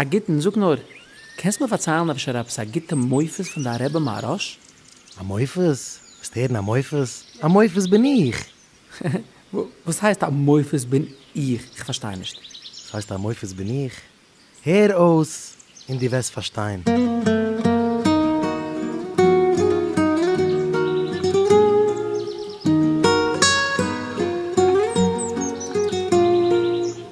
א גוטן, זאג נאר, קענסט מיר פארציילן אפשר עפעס א גוטע מופת פון דיין רבי מהרש? א מופת? ווילסט הערן א מופת? א מופת בין איך! וואס הייסט א מופת בין איך? איך פארשטיי נישט. וואס הייסט א מופת בין איך? הער אויס און דו וועסט פארשטיין.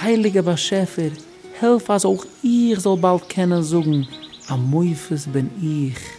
הייליגער באשעפער, העלף אז אויך איך זאל באלד קענען זאגן א מופת בין איך.